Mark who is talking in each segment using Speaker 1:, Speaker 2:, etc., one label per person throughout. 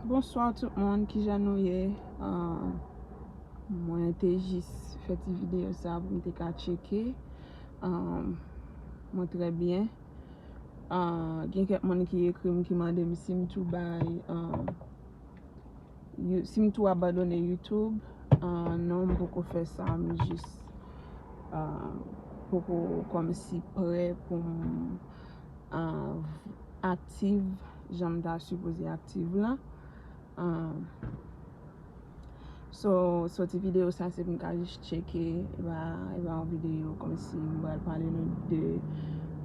Speaker 1: Bonswa tout moun ki jan nou ye Mwen te jis fè ti videyo sa pou m te ka tcheke Mwen trè byen Gen kèk moun ki ekri m ki mande m si m tou bay Si m tou abandone youtube Non m poko fè sa M jis poko kòm si prè pou m aktiv jan m ta sipoze aktiv la so soti videyo sa se pou m ka jis tcheke e pa yon videyo kòm si m pral pale nou de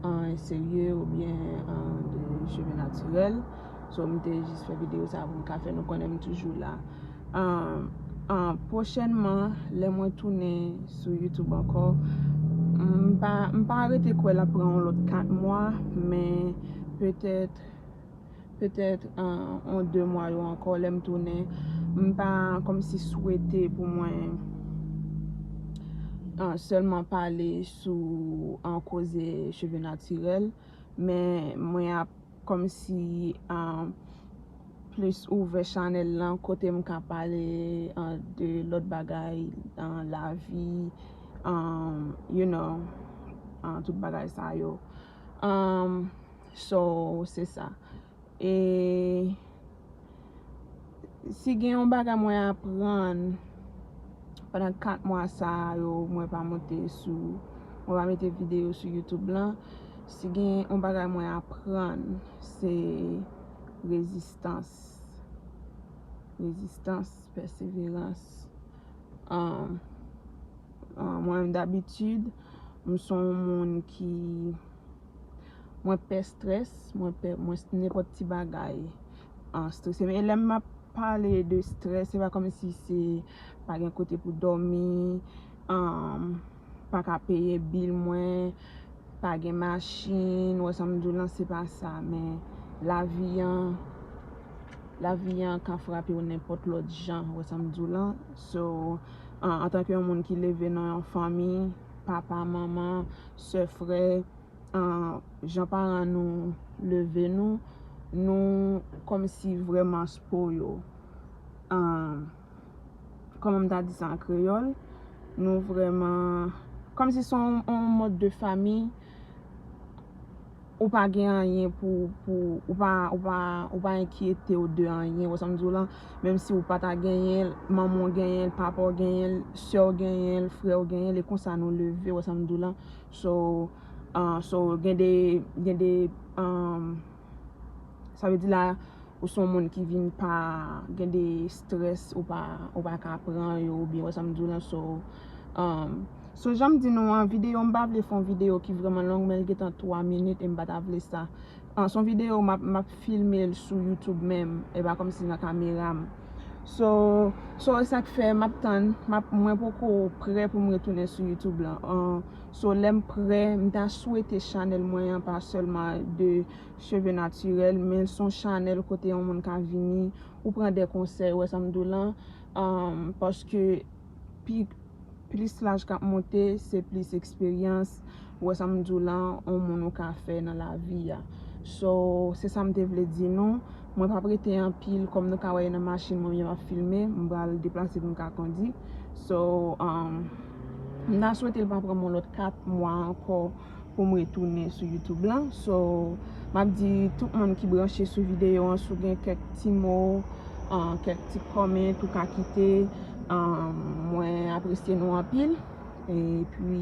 Speaker 1: anyen serye oubyen de cheve natirèl so m te jis fè videyo sa pou m ka fè nou konnen m toujou la Pwochènman, lè mwen tounen sou YouTube ankò, m pa rete kwè l ap pran yon lòt 4 mwa, men petèt, petèt yon 2 mwa yo ankò lè m tounen, m pa kòmsi swete pou mwen sèlman pale sou koze cheve natirèl, men mwen ap Kòmsi plis ouvè chanèl lan kote m ka pale de lòt bagay nan lavi you know tout bagay sa yo so se sa e Si gen yon bagay mwen aprann pandan 4 mwa sa a yo mwen pa monte sou, mwen pa mete videyo sou YouTube lan, si gen yon bagay mwen aprann se rezistans. Rezistans, pèseverans. Mwen dabitid, m son moun ki. Mwen pè stress, mwen pè nenpòt ti bagay an stressem. E lèm map pale de stress, se pa kòm si se pa gen kote pou dòmi, pa ka peye bil mwen, pa gen machin, ou wè sa m di w lan, se pa sa. Men, lavi an, lavi an ka frape w nenpòt lòt jan, ou wè sa m di w lan. So, antanke yon moun ki leve nan yon fanmi. papa, manman, sè, frè, jan paran nou leve nou, nou kòm si vreman spo yo. Kòman m ta di sa an kreyòl? Nou vreman, kòm si son yon mòd de fami. ou pa gen anyen pou ou pa enkyete ou de anyen. Ou wè sa m di w lan? Menm si ou pa ta genyen l, manman w genyen l, papa w genyen l, sè w genyen l, frè w genyen l, e konsa nou leve. Ou wè sa m di w lan? So, gen de, gen de. Sa vle di la ou son moun ki vin pa gen de stress ou pa ou pa ka pran yo ou byen wè sa m di w lan so umm so jan m di nou an videyo m pa vle fon videyo ki vreman long men l gen tan 3 minit e m pa ta vle sa an son videyo m ap m ap filme l sou youtube menm e pa kòmsi nan kamera m so so e sak fè m ap tann m ap mwen poko prè pou m retounen sou youtube lan an So lèm prè m ta swete chanèl mwen an pa sèlman de cheve natirèl men son chanèl kote yon moun ka vini ou pran de konsèy ou wè sa m di w lan paske pi plis laj kap monte se plis eksperyans ou wè sa m di w lan yon moun ou ka fè nan lavi a so se sa m te vle di nou mwen pap rete anpil kòm nou ka wè nan machin mwen yo ap filme m pral deplase pou m ka kondi so. M ta swete l pa pran m yon lòt 4 mwa ankò pou m retounen sou YouTube lan. So, m ap di tout moun ki branche sou videyo an, si w gen kèk ti mo, kèk ti comment ou ka kite, mwen apresye nou anpil. E pi,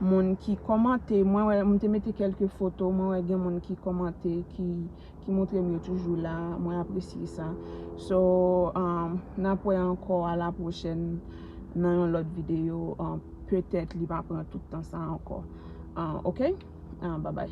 Speaker 1: moun ki kòmante, mwen wè, m te mete kèlke foto, mwen wè gen moun ki kòmante ki. ki moutre m yo toujou la mwen apresye sa so nap wè ankò a la pwochèn nan yon lòt videyo petèt li pa pran tout tan sa ankò ok babay.